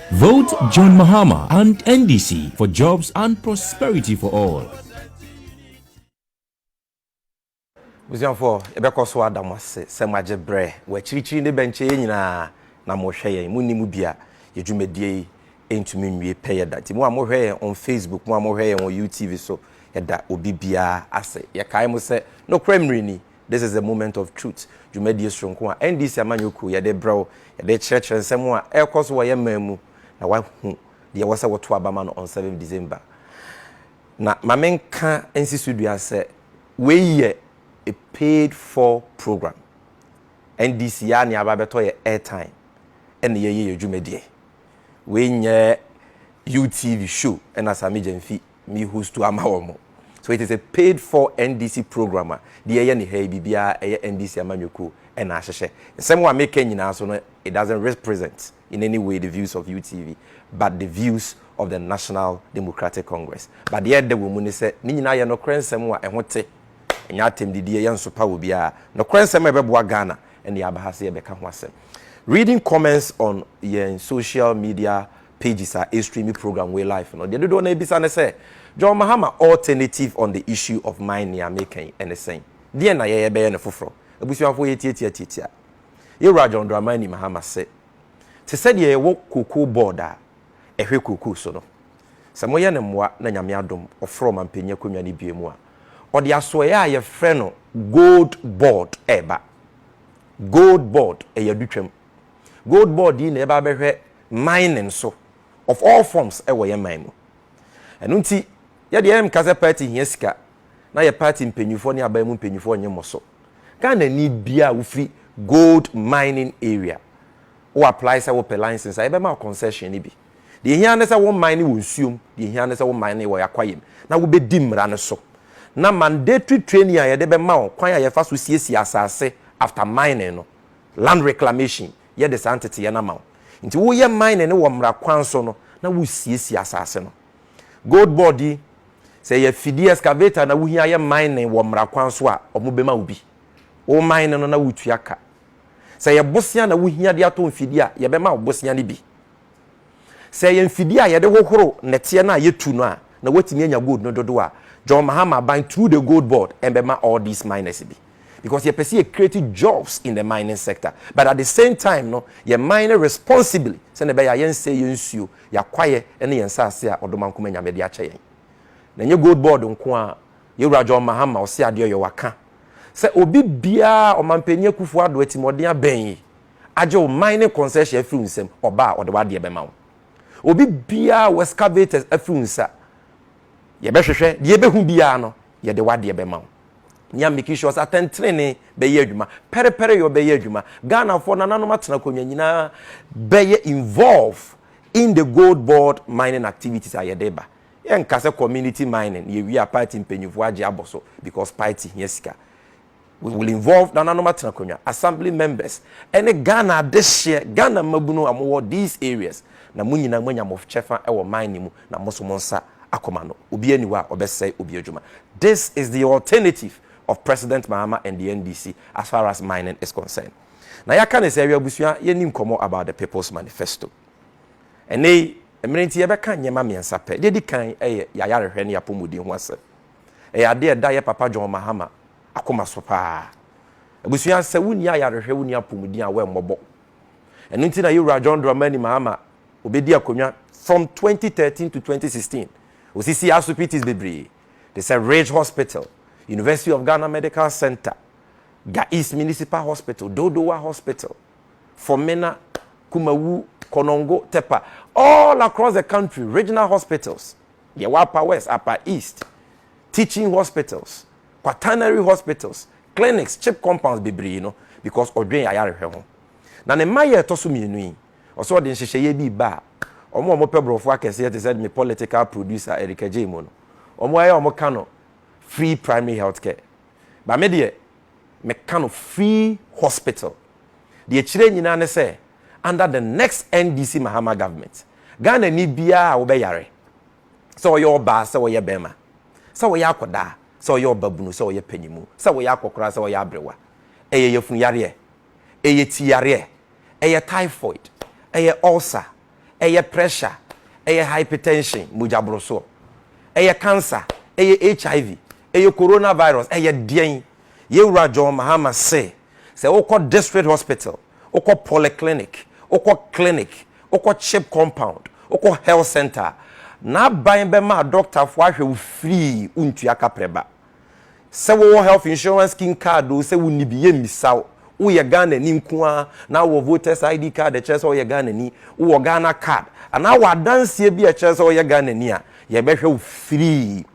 Vote John Mahama and NDC for jobs and prosperity for all. Busuafoɔ, yɛbɛkɔ so ada mo ase sɛ moagye berɛ wɔ akyirikyiri ne bɛnkyɛ yɛn nyinaa na mohwɛ yɛn. Monni mu bi a, yɛn dwumadie yi ntumi nwie pɛyɛ da. Nti mo a mohwɛ yɛn on Facebook, mo a mohwɛ yɛn wɔ UTV so, yɛda obi biara ase. Yɛkae mo sɛ, nokorɛ mmerɛ ni, This is the Moment of Truth dwumadie soronko a NDC amanyɔkuo yɛ de brɛ wo, yɛ de rekyerɛkyerɛ nsɛm a ɛrekɔ so wɔ yɛn man mu na woahu deɛ ɛwɔ sɛ woto aba ma no on seventh December. Na ma menka nsi so dua sɛ wei yɛ a paid for program. NDC yɛ a nea aba abɛtɔ yɛ airtime ɛna yɛyɛ yɛn dwumadie. Wei nyɛ UTV show ɛna Sammy Gyamfi me hostu ama wɔn. So it is a paid for NDC program a deɛ ɛyɛ ne ha yi biribiara ɛyɛ NDC amanyɔkuo ɛna ahyehyɛ. Nsɛm a meka nyinaa so no it doesn't represent in any way the views of UTV but the views of the National Democratic Congress. But deɛ ɛda wɔ mu ne sɛ ne nyinaa yɛ nokorɛ nsɛm a ɛho te. Ɛnyɛ atɛmdidie yɛ nsopa wɔ biara. Nokorɛ nsɛm a ɛbɛboa Ghana ɛna yɛaba ha sɛ yɛbɛka ho asɛm. Reading comments on yɛn social media pages a ɛstreami program wei live no, deɛ dodoɔ no ara bisa ne sɛ, John Mahama alternative on the issue of mine nea meka yi ne sɛn? Deɛn na yɛyɛ bɛyɛ no foforɔ? Abusuafoɔ yɛtiatia tiatia yɛwura John Dramani Mahama se, te sɛ deɛ yɛwɔ cocoa board a ɛhwɛ cocoa so no, sɛ moyɛ no mmoa na Nyame adom ɔforo ɔmampanyin akonnwa no bue mu a, ɔde asoɛeɛ a yɛfrɛ no gold board reba. Gold board, ɛyɛ adutwam. Gold board yi na yɛba abɛhwɛ mining so of all forms wɔ yɛn man mu. Ɛno nti yɛ deɛ yɛnka sɛ party hia sika na yɛ party mpanyinfoɔ ne aban mu mpanyinfoɔ nye mo so. Ghana ni biara a wofiri gold mining area wo apply sɛ wopɛ license a yɛbɛma wo concession no bi. Deɛ ehia ne sɛ wo mine wɔ nsuo mu, deɛ ehia ne sɛ wo mine wɔ Akwa Yem na wobɛdi mmara no so. Na mandatory training a yɛde bɛma wo, kwan a yɛfa so siesie asaase after mining no Land Reclamation yɛ de saa nteteeɛ no ama wo. Nti woyɛ mining no wɔ mmara kwan so no na wosiesie asase no. Gold board yi, sɛ ɛyɛ afidie, excavator na wohia yɛ mining wɔ mmara kwan so a, wɔbɛma wo bi. Wo mine no na wotua ka. Sɛ ɛyɛ bosea na wohia de atɔ mfidie a, yɛbɛma wo bosea no bi. Sɛ ɛyɛ mfidie a yɛde hohoro nnɛteɛ no a yɛtu no a, na woatumi anya gold no dodoɔ a John Mahama aban through the gold board bɛma all these miners bi. Because yɛpɛ sɛ yɛ create jobs in the mining sector but at the same time no yɛ mine responsibly sɛdeɛ ɛbɛyɛ a yɛnsɛe yɛn nsuo, yɛn akwaeɛ ne yɛn nsaase a Ɔdomankoma Nyame de akyɛ yɛn. Na ɛnyɛ gold board nko ara, yɛn Wura John Mahama Ɔseadeɛɔyɔ waka sɛ obi biara a Ɔmanpanin Akuffo Addo atirimuɔden abɛn yi, agye wo man ne kɔnsɛhyɛ afiri wo nsam, ɔba a ɔde w'adeɛ bɛma wo. Obi biara a w'excavators afiri wo nsa, yɛbɛhwehwɛ, deɛ yɛbɛhu biara no, yɛde w'adeɛ bɛma wo. Nea making sure sɛ atɛntenenee bɛyɛ adwuma, pɛrepɛreyɔ bɛyɛ adwuma, Ghanafoɔ, nananom atenakonwa nyinaa bɛyɛ involve in the gold board mining activities a yɛde reba. Yɛnka sɛ community mining, yɛwie a party mpanyinfoɔ agye abɔ so because party hia sika. We will involve nananom atenakonwa, assembly members, ɛne Ghana adehyeɛ, Ghana mmabunu a mowɔ these areas, na mo nyinaa moanya mo kyɛfa wɔ mine no mu, na mo nso mo nsa akɔ ma no. Obiara nni hɔ a ɔbɛsɛe obi adwuma. This is the alternative of President Mahama and the NDC as far as mining is concerned. Na yɛaka no sɛ ɛyɛ abusua yɛnni nkɔmmɔ about the People's Manifesto. Ɛnnɛ yi, mmerɛ nti yɛbɛka nneɛma mmiɛnsa pɛ. Deɛ ɛdi kan yɛ yɛayarehwɛ ne yɛapɔmuden ho asɛm. Ɛyɛ ade a ɛda yɛn papa John Mahama akoma so paa. Abusua, sɛ wonni ayarehwɛ, wonni apɔmuden a, woammɔbɔ. Ɛno nti na Yewura John Dramani Mahama obedii akonnwa from 2013 to 2016. Osisii asopitis bebree te sɛ Ridge Hospital, University of Ghana Medical Centre, Ga East Municipal Hospital, Dodowa Hospital, Fomena, Kumawu, Konongo, Tepa, all across the country, regional hospitals. Yɛwɔ Upper West, Upper East, teaching hospitals, quaternary hospitals, clinics, chip compounds bebree no because ɔdwen ayarehwɛ ho. Na ne mma yɛ ɛtɔ so mmienu yi, ɔsɛ ɔde nhyehyɛeɛ bi ba a, wɔn a wɔpɛ borɔfo akɛseɛ te sɛ me political producer Erica Gyei mu no, wɔn ara wɔka no free primary health care. But me deɛ, meka no free hospital. Deɛ ɛkyerɛ nyinaa ne sɛ under the next NDC Mahama government, Ghanani biara a wobɛyare, sɛ ɔyɛ ɔbaa, sɛ ɔyɛ barima, sɛ ɔyɛ akwadaa, sɛ ɔyɛ ɔbabunu, sɛ ɔyɛ panyinmu, sɛ ɔyɛ akɔkora, sɛ ɔyɛ aberewa, ɛyɛ yafunu yareɛ, ɛyɛ ti yareɛ, ɛyɛ typhoid, ɛyɛ ulcer, ɛyɛ pressure, ɛyɛ hypertension, mogya borosoɔ, ɛyɛ cancer, ɛyɛ HIV, Ɛyɛ corona virus ɛyɛ deɛn? Yɛn wura John Mahama se sɛ wokɔ district hospital, wokɔ polyclinic, wokɔ clinic, wokɔ chip compound, wokɔ health centre a, n'aban bɛma adɔktafoɔ ahwɛ wo free wontua kaprɛ ba. Sɛ wowɔ health insurance scheme card oo sɛ wonni bi, yɛmmisa wo. Woyɛ Ghanani nko ara na wowɔ voters ID card a ɛkyerɛ sɛ woyɛ Ghanani, wowɔ Ghana card anaa wɔ adanseɛ bi a ɛkyerɛ sɛ woyɛ Ghanani a, yɛbɛhwɛ wo free.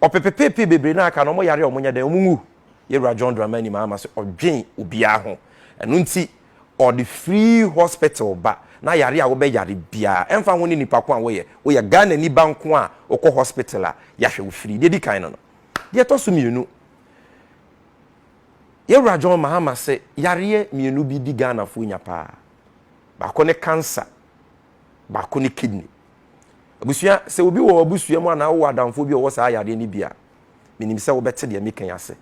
ɔpepepepe bebree no a aka no, wɔn yare a wɔnyɛ dɛn, wɔn nwu. Yɛwura John Dramani Mahama sɛ ɔdwen obiara ho. Ɛno nti, ɔde free hospital ba na yare a wobɛyare biara, ɛmfa ho ne nipa ko a woyɛ, woyɛ Ghanani ba nko a wokɔ hospital a, yɛahwɛ wo free. Deɛ ɛdi kan no no. Deɛ ɛtɔ so mmienu, Yɛwura John Mahama se yareɛ mmienu bi di Ghanafoɔ nya paa. Baako ne cancer, baako ne kidney. Abusua, sɛ obi wɔ w'abusua mu anaa wowɔ adamfoɔ bi a ɔwɔ saa yareɛ no bi a, menim sɛ wobɛte deɛ meka yi ase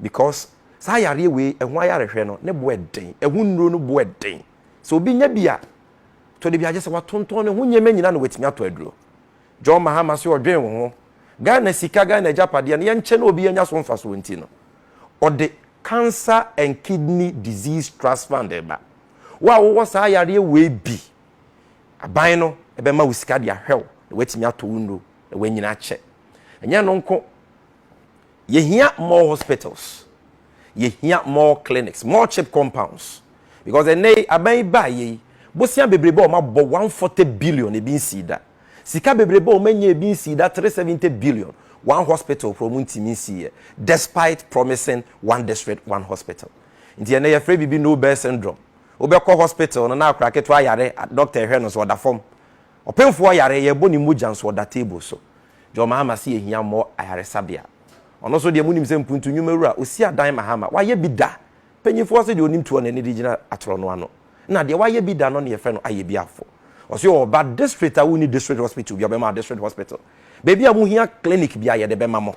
because saa yareɛ wei ɛho ayarehwɛ no ne boɛ den, ɛho nnuro no boɛ den. Sɛ obi nya bi a, tɔ de bi a gye sɛ watontɔn ne ho nneɛma nyinaa na watumi atɔ aduro. John Mahama se ɔdwen wo ho. Ghana sika, Ghana agyapadeɛ no yɛnkyɛ na obi anya so mfasoɔ nti no, ɔde Cancer and Kidney Disease Trust Fund reba. Wo a wowɔ saa yareɛ wei bi Aban no bɛma wo sika de ahwɛ wo na woatumi atɔ wo nnuro na woanyini akyɛ. Ɛnyɛ ɛno nko, yɛhia more hospitals, yɛhia more clinics, more chip compounds because ɛnnɛ yi aban yi baeɛ yi, bosea bebrebe a wɔabɔ 140 billion ebi nsii da. Sika bebrebe a wɔanya ebi nsii da 370 billion, one hospital koraa wɔntumi nsiiɛ despite promising one district, one hospital. Nti ɛnnɛ yɛfrɛ biribi Nobel syndrome. Wobɛkɔ hospital no na akora ketewa yare a doctor hwɛ no nso ɔda fam. Ɔpemfoɔ yare yɛrebɔ ne mogya nso ɔda table so. John Mahama se yɛhia mmɔ ayaresabea. Ɔno nso deɛ monim sɛ mpuntu nnwuma wura ɔsi adan Mahama wayɛ bi da. Panyinfoɔ se deɛ ɔnim tuo na ɛne de gyina atorɔ no ano. Nna deɛ wayɛ bi da no ne yɛfrɛ no Ayɛbiafo. Ɔse ɔɔba district a wonni district hospital bia ɔbɛma district hospital. Baabi a mohia clinic bia yɛde bɛma mo.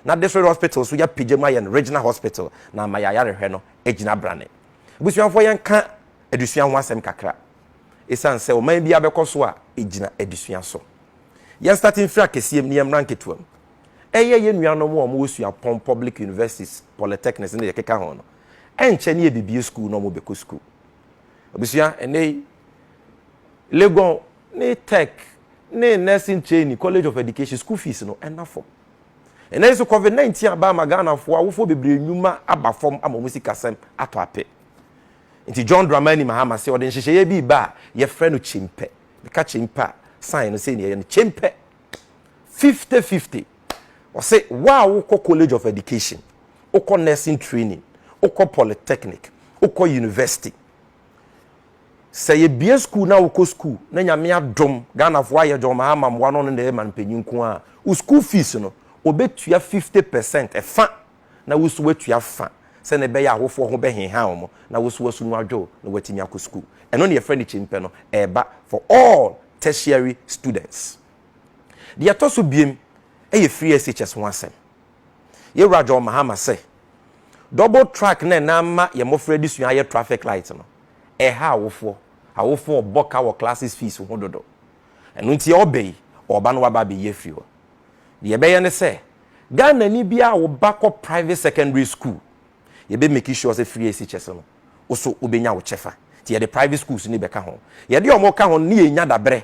Na district hospital nso yɛapagya mu ayɛ no regional hospital na ama yɛn ayarehwɛ no agyina brane. Abusuafoɔ yɛnka adesua ho asɛm kakra ɛsiane sɛ ɔman biara bɛkɔ so a ɛgyina adesua so. Yɛn starte mfiri akɛseɛ mu na yɛmmra nketewa mu. Ɛyɛ yɛn nuanom a wɔwɔ suapɔn, public universities, polytechnics ne deɛ ɛkeka ho no, ɛnkyɛ ne yɛbɛbue sukuu na wɔbɛkɔ sukuu. Abusua, ɛnnɛ yi Legon ne Tech ne Nursing Training, College of Education, school fees no ɛna fam. Ɛnɛ nso covid 19 aba ama Ghanafoɔ awofoɔ bebree nnwuma aba fam ama wɔn sikasɛm atɔ ape. Nti John Dramani Mahama se ɔde nhyehyɛeɛ bi reba a yɛfrɛ no Kyempɛ. Meka Kyempɛ a sign no sei na ɛyɛ no, Kyempɛ 50-50. Ɔse wo a wokɔ College of Education, wokɔ Nursing Training, wokɔ Polytechnic, wokɔ University, Sɛ yɛbue sukuu na wokɔ sukuu na Nyame adom Ghanafoɔ ayɛ gyɔmaa ama mmoa no ɔno na ɛyɛ manpanyin nko ara a, wo sukuu fees no ɔbɛtua 50 percent, ɛfa, na wo nso woatua fa sɛdeɛ ɛbɛyɛ a awofoɔ ho bɛheha wɔn na wo nso w'asu no adwo wo na woatumi akɔ sukuu. Ɛno na yɛfrɛ no kyimpɛ no ɛreba for all tertiary students. Deɛ ɛtɔ so biam yɛ free SHS ho asɛm. Yewura John Mahama sɛ, Double track na ɛnan mma yɛn mmofra adesua ayɛ traffic light no, ɛha awofoɔ. Awofoɔ ɔbɔ ka wɔ classes fees ho dodo. Ɛno nti ɔɔba yi, ɔɔba na waba abɛyi afiri hɔ. Deɛ yɛbɛyɛ ne sɛ, Ghanani biara a wo ba kɔ private secondary school, yɛbɛ make sure sɛ free SHS no, wo so wobɛnya wo kyɛfa. Nti yɛde private schools no bɛka ho. Yɛde wɔn ka ho no, ne yɛnya daberɛ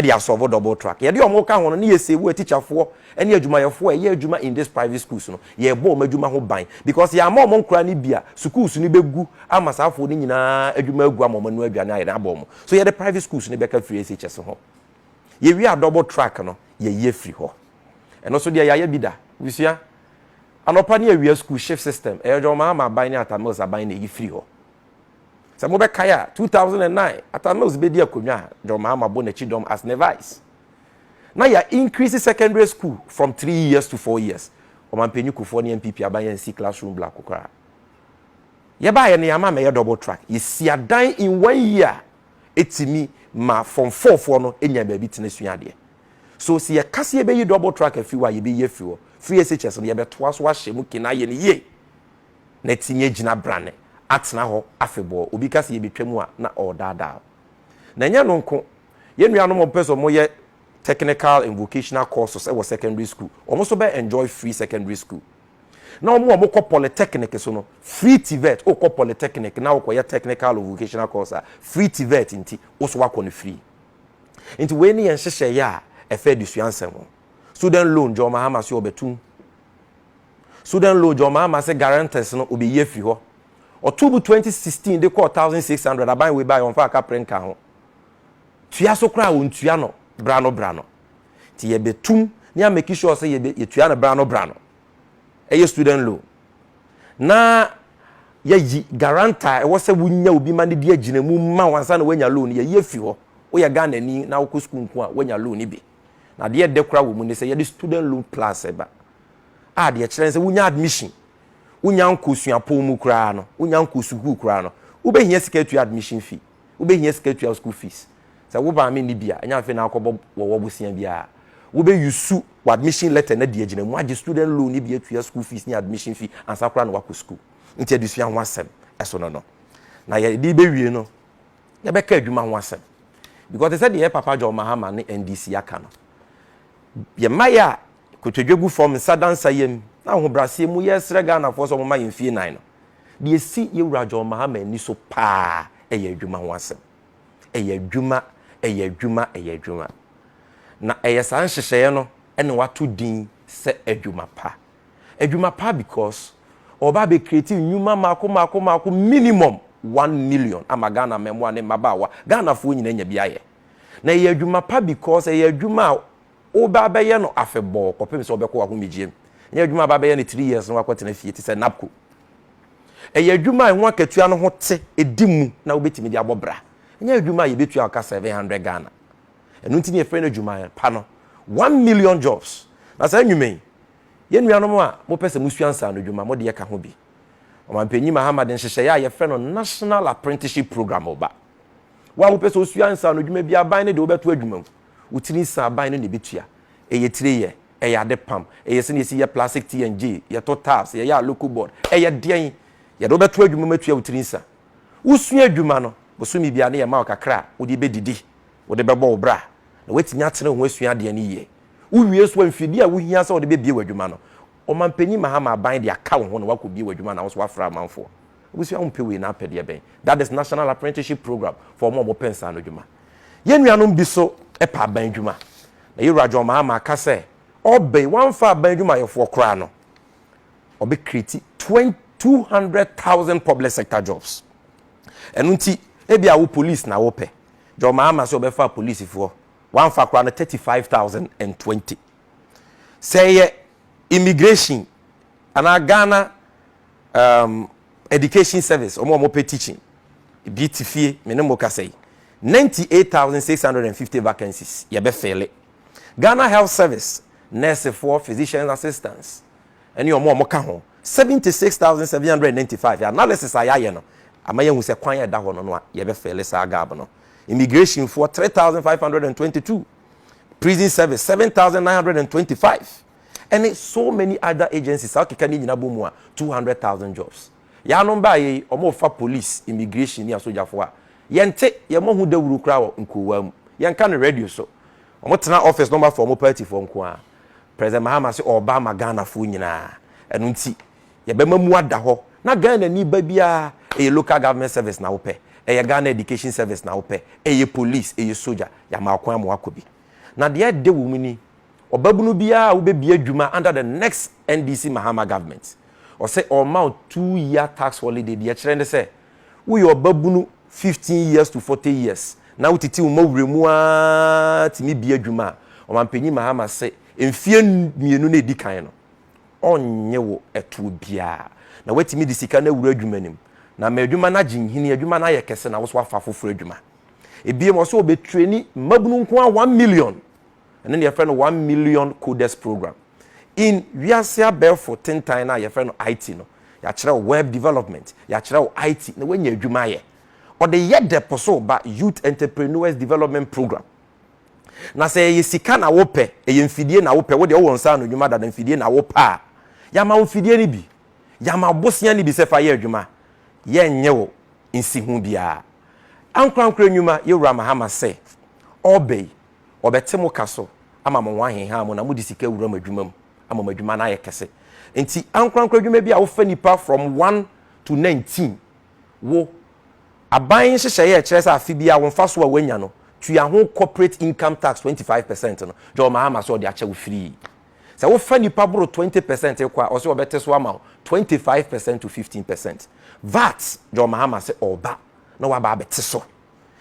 de asɔvo double track. Yɛde wɔn ka ho no, na yɛsave atikyafoɔ ne adwumayɛfoɔ a ɛyɛ adwuma in these private schools no, yɛrebɔ wɔn adwuma ho ban. Because yɛamma wɔn nkora no bi a, sukuus no bɛgu ama saa afoɔ no nyinaa adwuma agu ama wɔanoa aduane ayɛ den abɔ wɔn. So yɛde private schools no bɛka firi SHS ho. Yɛwie a double track no, yɛyi afiri hɔ. Ɛno nso deɛ yɛayɛ bi da. Abusua, anɔpa ne awia school shift system, ɛyɛ dwɔmmaa ama aban ne Atta Mills aban na ɛyi firi hɔ. Sɛ mobɛkae a, two thousand and nine Atta Mills bedi akonnwa a John Mahama bɔ n'akyi dɔm as ne vice. Na yɛa increase secondary school from three years to four years. Ɔmampanyin Kufuor ne NPP aban ansi classroom biako koraa. Yɛbaeɛ no yɛama amɛyɛ double track. Yɛsi adan in one year a ɛtumi ma form four foɔ no nya baabi tena sua adeɛ. So sɛ yɛka sɛ yɛbɛyi double track afiri hɔ a, yɛbɛyi afiri hɔ. Free SHS no yɛbɛtoa so ahyɛ mu kin ayɛ no yie. na tumi agyina brane atena hɔ afebɔɔ. Obi ka sɛ yɛbɛtwa mu a, na ɔredaadaa wo. Na ɛnyɛ ɛno nko, yɛn nuanom a wɔpɛ sɛ wɔyɛ technical and vocational courses wɔ secondary school, wɔn nso bɛ enjoy free secondary school. Na wɔn a wɔkɔ polytechnic so no, free TVET, wokɔ polytechnic na wokɔyɛ technical or vocational course a, free TVET nti, wo nso woakɔ no free. Nti wei ne yɛn nhyehyɛeɛ a ɛfa adesua nsɛm ho. Student loan, John Mahama so ɔbɛtum. Sudan Lodge a ɔmaa m'ase guarantors no obeyi afi hɔ. Ɔtoo mu twenty sixteen de kɔɔ thousand six hundred aban wei bae ɔmfaa kapre nkaa ho. Tua so koraa a ontua no bra no bra no. Nti yɛbɛtum ne a make sure sɛ yɛbɛ yɛtua no bra no bra no. Ɛyɛ student loan. Na yɛyi guarantor a ɛwɔ sɛ wonya obi ma no di agyinamu ma wo ansa na woanya loan no yɛyi afi hɔ. Woyɛ Ghanani na wokɔ sukuu nko a woanya loan no bi. Na adeɛ ɛdɛ koraa wɔ mu ne sɛ yɛde student loan plus ba. a deɛ ɛkyerɛ ne sɛ wonya admission, wonya nkɔ suapɔn mu koraa no, wonya nkɔ sukuu koraa no, wobɛhia sika atua admission fee, wobɛhia sika atua wo school fees. Sɛ wo maame nni bi a, ɛnyɛ afei na akɔbɔ wɔ wɔ bosea biara. Wobɛ use wo admission letter no adi agyina mu agye student loan no bi atua school fees ne admission fee ansa koraa na woakɔ sukuu. Nti adesua ho asɛm ɛso no no. Na yɛde bɛwie no, yɛbɛka adwuma ho asɛm. Because te sɛ deɛ yɛ Papa John Mahama ne NDC aka no, yɛn mmaeɛ a Kotodwe gu fam, nsa da nsa yam, na ahobrɛaseɛ mu yɛresrɛ Ghanafoɔ sɛ wɔmma yɛn fie nan no. Deɛ ɛsi Yɛwura John Mahama ani so paa yɛ adwuma ho asɛm. Ɛyɛ adwuma, ɛyɛ adwuma, ɛyɛ adwuma. Na ɛyɛ saa nhyehyɛeɛ no na wɔato din sɛ adwuma pa. Adwuma pa because wɔba abɛ create nnwuma mmaako mmaako mmaako minimum one million ama Ghana mmaamua ne mmabaawa, Ghanafoɔ nyinaa anya bi ayɛ. Na ɛyɛ adwuma pa because ɛyɛ adwuma a Wobɛ abɛyɛ no afebɔɔ kɔpem sɛ ɔbɛkɔ w'ahomegyeɛm. Nyɛ adwuma a bɛabɛyɛ no three years na wakɔtena fie te sɛ NABCO. Ɛyɛ adwuma a ɛho akatua no ho te, ɛdi mu na wobɛtumi de abɔ bra. Nyɛ adwuma a yɛbɛtua wo ka seven hundred Ghana. Ɛno nti na yɛfrɛ no adwuma pa no one million jobs. Na saa nnwuma yi, yɛn nuanom a mopɛ sɛ mosua nsaanodwuma, mo deɛ ka ho bi. Ɔmampanyin Mahama de nhyehyɛeɛ a yɛfrɛ no National Apprenticeship Programme reba. Wo a wopɛ sɛ wosua nsaanodwuma bi, aban no de wobɛto adwuma mu. Wo tiri nsaban no na ɛbɛtua. Ɛyɛ tire yɛ, ɛyɛ ade pam, ɛyɛ sɛdeɛ yɛsi yɛ plastic T and J, yɛtɔ tiles, yɛyɛ aloco board, ɛyɛ deɛn? Yɛde wo bɛto adwuma mu atua wo tiri nsa. Wo sua adwuma no, bosome biara no yɛma wo kakra a wode bɛdidi, wode bɛbɔ wo bra na woatumi atene wo ho asua adeɛ no yie. Wo wie nso a, mfidie a wohia sɛ wode bɛbue w'adwuma no, ɔmanpanin Mahama aban de aka wo ho na woakɔbue w'adwuma na wo nso woafra amanfoɔ. Abusua ho mpɛ wei na apɛ deɛ bɛn? That is national apprenticeship program for wɔn a wɔpɛ nsa ano adwuma. Yɛn nuanom bi so pɛ aban adwuma. Na yɛn wura John Mahama aka sɛ ɔreba yi wɔamfa aban adwumayɛfoɔ koraa no ɔbɛ create twen two hundred thousand public sector jobs. Ɛno nti ebi a wo police na wopɛ. John Mahama sɛ ɔbɛfa polisifoɔ wɔamfa koraa no thirty five thousand and twenty. Sɛ ɛyɛ immigration anaa Ghana um, education service ɔmo a ɔmo pɛ teaching ebi te fie me ne mo kasa yi ninety eight thousand six hundred and fifty vacancies yɛbɛfɛle ghana health service nursefoɔ physician assistants ɛne ɔmo a ɔmo ka ho seventy six thousand seven hundred and ninety five analysis a yɛayɛ no ama yɛhu sɛ kwan a ɛda hɔ no no a yɛbɛfɛle saa gap no immigrationfoɔ three thousand five hundred and twenty two prison service seven thousand nine hundred and twenty five ɛne so many other agencies a wokeka ne nyina bɔ mu a, two hundred thousand jobs. Yɛanom baeɛ yi, wɔrefa police, immigration ne asogyafoɔ a, yɛnte, yɛmmɔ ho dawuro koraa wɔ nkurowa mu. Yɛnka no radio so. Wɔtena office na wɔafa wɔn partyfoɔ nko ara. President Mahama se ɔreba ama Ghanafoɔ nyinaa. Ɛno nti, yɛbɛma mu ada hɔ. Na Ghanani ba biara, ɛyɛ local government service na wopɛ, ɛyɛ Ghana education service na wopɛ, ɛyɛ police, ɛyɛ sogya, yɛama wo kwan ma woakɔ bi. Na deɛ ɛde wɔ mu ni, Ɔbabunu biara a wobɛbie adwuma under the next NDC Mahama government, ɔsɛ ɔrema wo two year tax holiday, deɛ ɛkyerɛ ne sɛ woyɛ ɔbabunu fifteen years to forty years na wotete wo mawura mu ara tumi bie adwuma a, Ɔmampanyin Mahama se mfeɛ mmienu no a ɛdi kan no, ɔrennye wo ɛtoɔ biara na woatumi de sika no awura adwuma no mu na ama adwuma no agye nhini, adwuma no ayɛ kɛse na wo nso woafa afoforɔ adwuma. Ebiem, ɔse ɔbɛtraini mmabunu nko ara one million. Ɛno na yɛfrɛ no One Million Coders Program. In wiase abɛɛfo tentan no a yɛfrɛ no IT no, yɛakyerɛ wo Web Development, yɛakyerɛ wo IT, na woanya adwuma ayɛ. Ɔde yɛ dɛ po so ba Youth Entrepreneurs Development Program. Na sɛ ɛyɛ sika na wopɛ, ɛyɛ mfidie na wopɛ, wo deɛ wowɔ nsa ano adwuma dada, mfidie na wopɛ a, yɛama wo mfidie no bi. Yɛama wo bosea no bi sɛ fa yɛ adwuma. Yɛrennye wo nsiho biara. Ankorankoro nnwuma, Yɛwura Mahama se, ɔreba yi, wɔbɛte mo ka so ama mo ho aheha mo na mode sika awura mo adwuma mu ama mo adwuma no ayɛ kɛse. Nti ankorankoro adwuma bi a wofa nipa from one to nineteen wo aban nhyehyɛeɛ a ɛkyerɛ sɛ afe biara wo mfasoɔ a woanya no tua ho corporate income tax twenty five percent no John Mahama sɛ ɔde akyɛ wo firii. Sɛ wofa nipa boro twenty percent kɔ a ɔse ɔbɛte so ama wo twenty five percent to fifteen percent VAT John Mahama se ɔreba na waba abɛte so.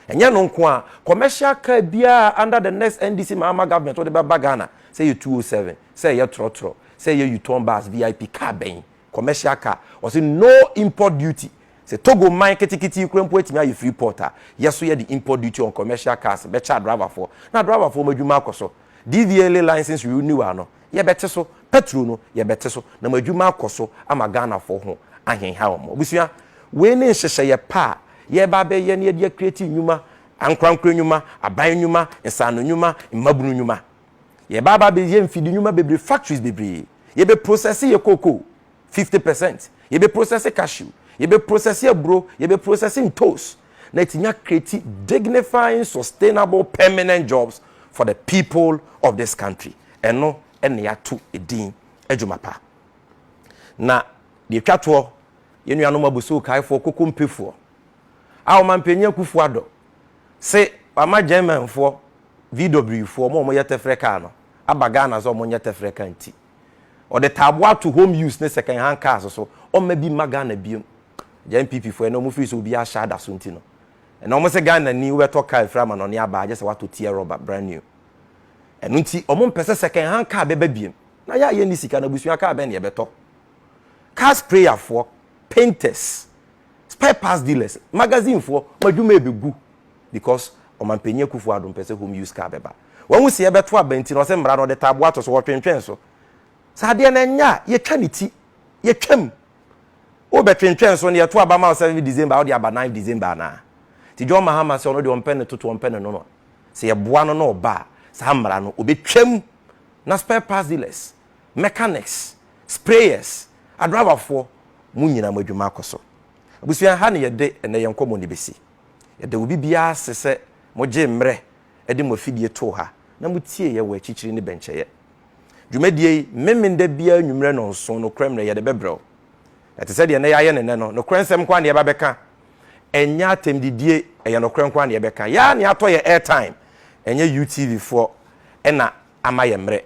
Ɛnyɛ ɛno nko ara, commercial car biara under the next NDC Mahama government wode bɛba Ghana, sɛ ɛyɛ 207, sɛ ɛyɛ trɔtrɔ, sɛ ɛyɛ U-turn bus, VIP, car bɛn, commercial car, wɔse no import duty. Sɛ Togo man ketekete yi koraa mpo atumi ayɛ free port a, yɛ so yɛde import duty on commercial cars bɛkyɛ adriverfoɔ na adriverfoɔ wɔn adwuma akɔ so. DVLA license renewal no, yɛbɛte so, pɛtro no yɛbɛte so na mo adwuma akɔ so ama Ghanafoɔ ho ahenhaw mo. Abusua, wei ne nhyehyɛeɛ pa a yɛreba abɛyɛ na yɛde akreati nnwuma, ankorankoro nnwuma, aban nnwuma, nsaano nnwuma, mmabunu nnwuma. Yɛreba aba abɛyɛ mfidi nnwuma bebree, factories bebree. Yɛbɛprosɛse yɛn cocoa. fifty percent yɛbɛ process cashew yɛbɛ process aburo yɛbɛ process ntos na etumi akreti dignifying sustainable permanent jobs for the people of this country ɛno ɛna yɛato edin adwuma pa na deɛ etwa toɔ yɛn nuanom abusuo kaefoɔ koko mpefoɔ a wɔn mpanyin akufoɔ adɔ se wama germanfoɔ vw foɔ wɔn a wɔyɛ tɛfrɛ kaa no aba ghana sɛ wɔn nyɛ tɛfrɛ kaa nti Ɔde taaboa to home use ne second hand cars so. Ɔmma bi mma Ghana biom. Agya NPP fo ɛnɛ wɔn firi sɛ obiara hyɛ ada so nti no. Ɛnɛ wɔn sɛ Ghana ni wobɛtɔ car firi amanɔne aba agye sɛ watɔ tear rubber brand new. Ɛno nti wɔn mpɛ sɛ second hand car bɛba biom. Na yɛ a yɛnni sika na abusua car bɛn na yɛbɛtɔ? Car sprayer foɔ, painters, spare parts dealers, magazine foɔ, wɔn adwuma ɛbɛgu because ɔmanpanyin Akufo Addo mpɛ sɛ home use car bɛba. Wahu sɛ yɛbɛto aba nti na ɔsɛ mmara no ɔde taaboa ato so, wɔtwentwɛn so. Sɛ adeɛ no ɛnyɛ a, yɛtwa ne ti, yɛtwam. Wobɛtwentwɛn so na yɛto aba ma wo 7 December a wode aba 9 December anaa? Nti John Mahama sɛ ɔno deɛ ɔmpɛ ne toto, ɔmpɛ ne nono. Sɛ yɛboa no na ɔba a, saa mmara no ɔbɛtwam. Na spare parts dealers, mechanics, sprayers, adriverfoɔ, mo nyinaa mo adwuma akɔ so. Abusua ha na yɛde ɛnɛ yɛn nkɔmmɔ no bɛsi. Yɛda obi biara ase sɛ mogyee mmerɛ de mo afidie too ha na motiee yɛn wɔ akyikyiri ne bɛnkyɛeɛ. Dwumadie yi, Memeneda biara anwummerɛ nnɔnson, nokorɛ mmerɛ yɛde bɛbrɛ wo. Na te sɛ deɛ na yɛayɛ no nnɛ no, nokorɛ nsɛm nko ara na yɛba bɛka. Ɛnyɛ atɛmdidie, ɛyɛ nokorɛ nko ara na yɛbɛka. Yɛn ara na yɛatɔ yɛn airtime, ɛnyɛ UTVfoɔ na ama yɛn mmerɛ.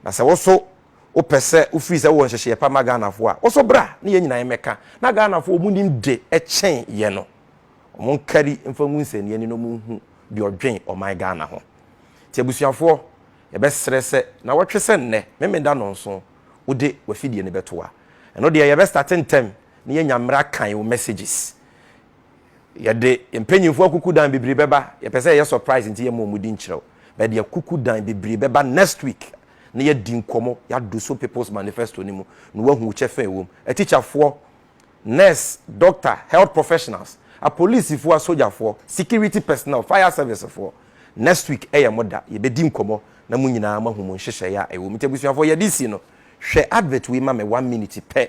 Na sɛ wo so wo pɛ sɛ wo firi sɛ wo wɔ nhyehyeɛ pa ma Ghana foɔ a, wo so bra ne yɛn nyinaa yɛn mɛka. Na Ghana foɔ ɔmo nim de kyɛn yɛn no. Ɔmo nkari mfa ngu nsɛnniɛ ani na ɔmo nhu deɛ ɔdwen ɔman Ghana ho. Nti abusuafoɔ yɛ bɛ srɛ sɛ nawɔtwe sɛ nnɛ Memenda nnɔnso wo de w'afidie no bɛto a, ɛno deɛ yɛ bɛ starte ntɛm na yɛnya mmerɛ akan wo messages. Yɛde mpanyinfoɔ akukudan bebree bɛba. Yɛpɛ sɛ yɛyɛ surprise nti yɛma wɔn din kyerɛw. But yɛde akukudan bebree bɛba next week na yɛadi nkɔmmɔ, yɛado so People's Manifesto no mu na woahu wo kyɛfa a ɛwɔ mu. Atikyafoɔ, nurse, doctor, health professionals, apolisifoɔ, asogyafoɔ, security personnel, fire servicefoɔ, next week yɛ mo da. Yɛbɛdi nkɔmmɔ na mo nyinaa moahu mo nhyehyɛeɛ a ɛwɔ mu. Nti abusuafoɔ yɛde resi no, hwɛ advert wei ma me one minute pɛ.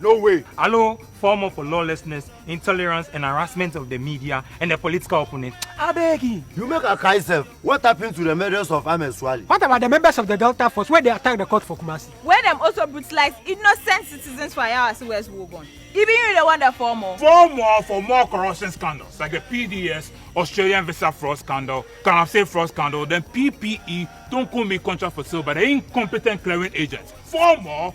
No way! Allo former for lawlessness, intolerance and harassment of the media and the political opponents abeg! You make I cry sef, what happen to the murders of Ahmed Suale? What about the members of the Delta force wey dey attack the court for Kumasi? Wey dem also brutalize innocent citizens for Ayawase West Wuogon? Even you dey wonder for more? For more for more corruption scandals like the PDS, Australian visa fraud scandal, Galamsey fraud scandal, then PPE, Tonkunmi contract for sale by the incompetent clearing agents? For more.